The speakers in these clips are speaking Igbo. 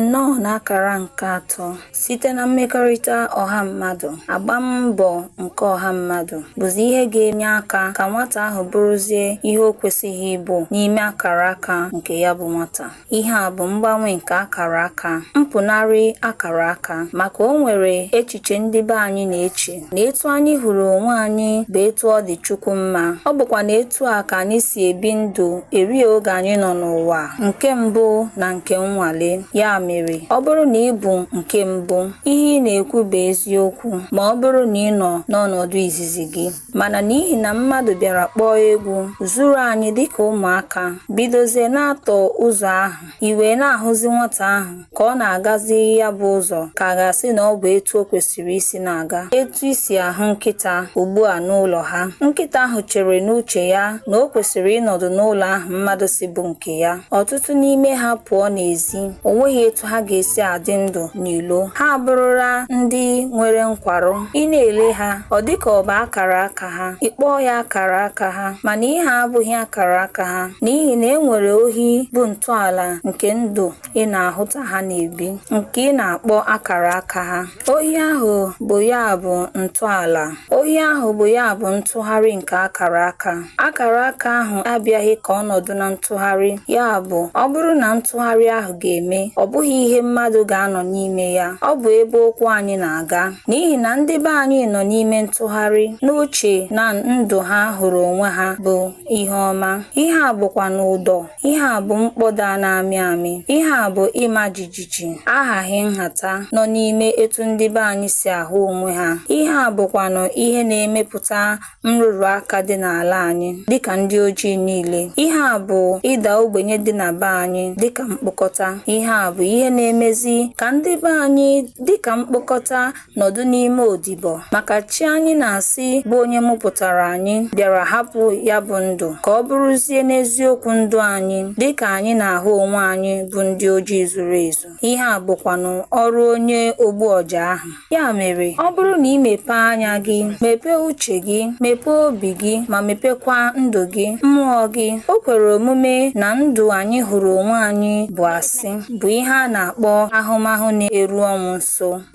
nnọọ n'akara nke atọ site na mmekọrịta ọha mmadụ agbam mbọ nke ọha mmadụ bụzi ihe ga-enye aka ka nwata ahụ bụrụzie ihe o kwesịghị ịbụ n'ime akara aka nke ya bụ nwata Ihe a bụ mgbanwe nke akara aka, mpụnarị akara aka, maka o nwere echiche ndị be anyị na-eche na etu anyị hụrụ onwe anyị bụ etu ọ dị Chukwu mma. Ọ bụkwa na etu a ka anyị si ebi ndụ eri oge anyị nọ n'ụwa, nke mbụ na nke nnwale. Ya mere, ọ bụrụ na ị bụ nke mbụ, ihe ị na-ekwu bụ eziokwu ma ọ bụrụ na ị nọ n'ọnọdụ izizi gị. mana n'ihi na mmadụ bịara kpọọ egwu zuru anyị dịka ụmụaka bidozie na-atọ ụzọ ahụ i wee na-ahụzi nwata ahụ ka ọ na-agazi ya bụ ụzọ ka a ga-asị na ọ bụ etu o kwesịrị isi na-aga etu i si ahụ nkịta ugbu a n'ụlọ ha nkịta ahụ chere n'uche ya na o kwesịrị ịnọdụ n'ụlọ ahụ mmadụ sị bụ nke ya ọtụtụ n'ime ha pụọ n'ezi o nweghị etu ha ga-esi adị ndụ n'ilo ha abụrụla ndị nwere nkwarụ ị na-ele ha ọ dịka ọ bụ akara aka ha ị kpọọ ya akara aka ha mana ihe a abụghị akara aka ha n'ihi na e nwere ohi bụ ntọala nke ndụ ị na-ahụta ha na-ebi nke ị na-akpọ akara aka ha Ohi ahụ bụ ya bụ ntọala. Ohi ahụ bụ ya bụ ntụgharị nke akara aka. Akara aka ahụ abịaghị ka ọ nọdụ na ntụgharị, ya bụ, ọ bụrụ na ntụgharị ahụ ga-eme, ọ bụghị ihe mmadụ ga-anọ n'ime ya, ọ bụ ebe okwu anyị na-aga. N'ihi na ndị be anyị nọ n'ime ntụgharị, n'uche na ndụ ha hụrụ onwe ha bụ ihe ọma. Ihe a bụkwa n'ụdọ. Ihe a bụ mkpọda na-amị amị. Ihe a bụ ịma jijiji ahaghị nhata nọ n'ime etu ndị be anyị si ahụ onwe ha. Ihe a bụkwanụ ihe na-emepụta nrụrụ aka dị n'ala anyị dịka ndị ojii niile. Ihe a bụ ịda ogbenye dị na be anyị dịka mkpokọta. Ihe a bụ ihe na-emezi ka ndị be anyị dịka mkpokọta nọdụ n'ime odibo maka chi anyị na-asị bụ onye mụpụtara anyị bịara hapụ ya bụ ndụ ka ọ bụrụzie n'eziokwu ndụ anyị dịka anyị na-ahụ onwe anyị bụ ndị ojii zuru ezu ihe a bụkwanụ ọrụ onye ogbu ọja ahụ ya mere ọ bụrụ na ị mepee anya gị mepee uche gị mepee obi gị ma mepekwa ndụ gị mmụọ gị o kwere omume na ndụ anyị hụrụ onwe anyị bụ asị bụ ihe a na-akpọ ahụmahụ na-eru ọnwụ nso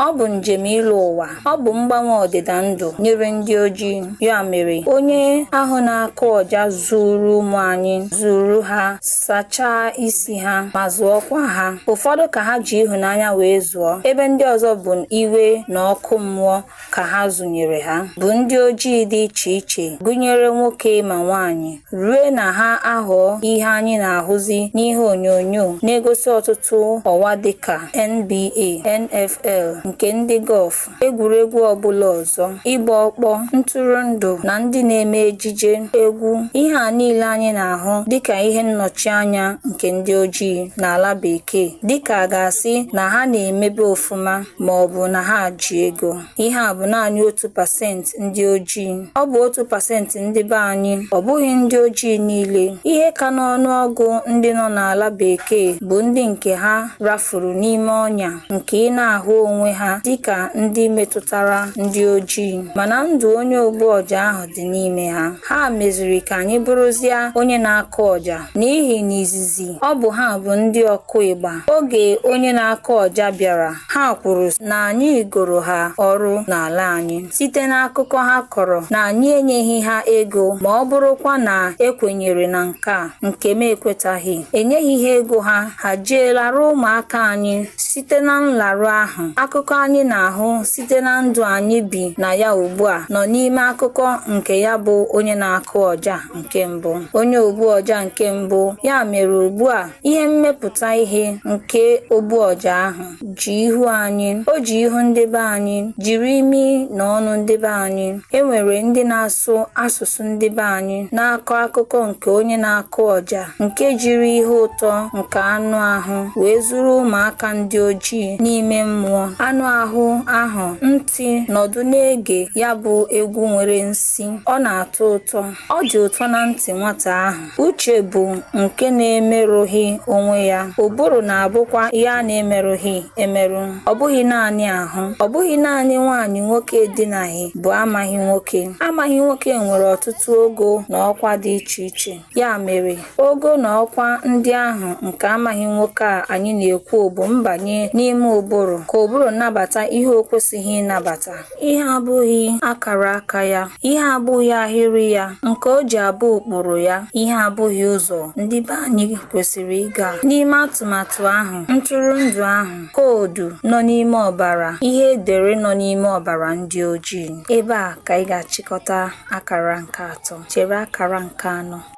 Ọ bụ njem ịlọ ụwa. Ọ bụ mgbanwe ọdịda ndụ nyere ndị ojii. Ya mere, onye ahụ na-akụ ọja zuuru ụmụ anyị, zuuru ha, sachaa isi ha, ma zụọkwa ha. Ụfọdụ ka ha ji ịhụnanya wee zụọ, ebe ndị ọzọ bụ iwe na ọkụ mmụọ ka ha zụnyere ha bụ ndị ojii dị iche iche gụnyere nwoke ma nwaanyị rue na ha aghọọ ihe anyị na-ahụzi n'ihe onyonyo na-egosi ọtụtụ ọwa dịka NBA, NFL nke ndị gọlf, egwuregwu ọbụla ọzọ, ịgba ọkpọ, ntụrụndụ na ndị na-eme ejije, egwu, ihe a niile anyị na-ahụ dịka ihe nnọchianya nke ndị ojii n'ala bekee dịka a ga-asị na ha na-emebe ọfụma. ma ọ bụ na ha ji ego. Ihe a bụ naanị otu pasentị ndị ojii. Ọ bụ otu pasentị ndị be anyị, ọ bụghị ndị ojii niile. Ihe ka n'ọnụọgụ ndị nọ n'ala bekee bụ ndị nke ha rafuru n'ime ọnya nke ị na-ahụ onwe ha dịka ndị metụtara ndị ojii. Mana ndụ onye ogbu ọja ahụ dị n'ime ha. Ha meziri ka anyị bụrụzịa onye na-akụ ọja n'ihi n'izizi ọ bụ ha bụ ndị ọkụ ịgba Oge onye na-akụ ọja bịara, ha kwuru na anyị goro ha ọrụ n'ala anyị. Site n'akụkọ ha kọrọ na anyị enyeghị ha ego ma ọ bụrụkwa na e kwenyere na nke a, nke m ekwetaghị. E nyeghị ha ego ha, ha jee lara ụmụaka anyị. Site na nlara ahụ, akụkọ anyị na-ahụ site na ndụ anyị bi na ya ugbu a nọ n'ime akụkọ nke ya bụ onye na-akụ ọja nke mbụ, onye ogbu ọja nke mbụ. Ya mere ugbu a, Ihe mmepụta ihe nke ogbu ọja ahụ ji ihu anyị, o ji ihu ndị be anyị, jiri imi na ọnụ ndị be anyị. E nwere ndị na-asụ asụsụ ndị be anyị na-akọ akụkọ nke onye na-akụ ọja nke jiri ihe ụtọ nke anụ ahụ wee zuru ụmụaka ndị ojii n'ime mmụọ. Anụ ahụ ahụ ntị nọdụ na-ege ya bụ egwu nwere nsi, ọ na-atọ ụtọ, ọ dị ụtọ na ntị nwata ahụ. Uche bụ nke na-emerụghị onwe ya, ụbụrụ na-abụkwa ihe a na-emerụghị emerụ. Ọ bụghị naanị ahụ, ọ bụghị naanị nwaanyị nwoke edinaghị bụ amaghị nwoke. Amaghị nwoke nwere ọtụtụ ogo na ọkwa dị iche iche. Ya mere, ogo na ọkwa ndị ahụ nke amaghị nwoke a anyị na-ekwu bụ mbanye n'ime ụbụrụ ka ụbụrụ nabata ihe o kwesịghị ịnabata. ihe abụghị akara aka ya ihe abụghị ahịrị ya nke o ji abụ ụkpụrụ ya ihe abụghị ụzọ ndị be anyị kwesịrị ịga n'ime atụmatụ ahụ ntụrụndụ ahụ koodu nọ n'ime ọbara ihe e dere nọ n'ime ọbara ndị ojii ebe a ka ị ga-achịkọta akara nke atọ chere akara nke anọ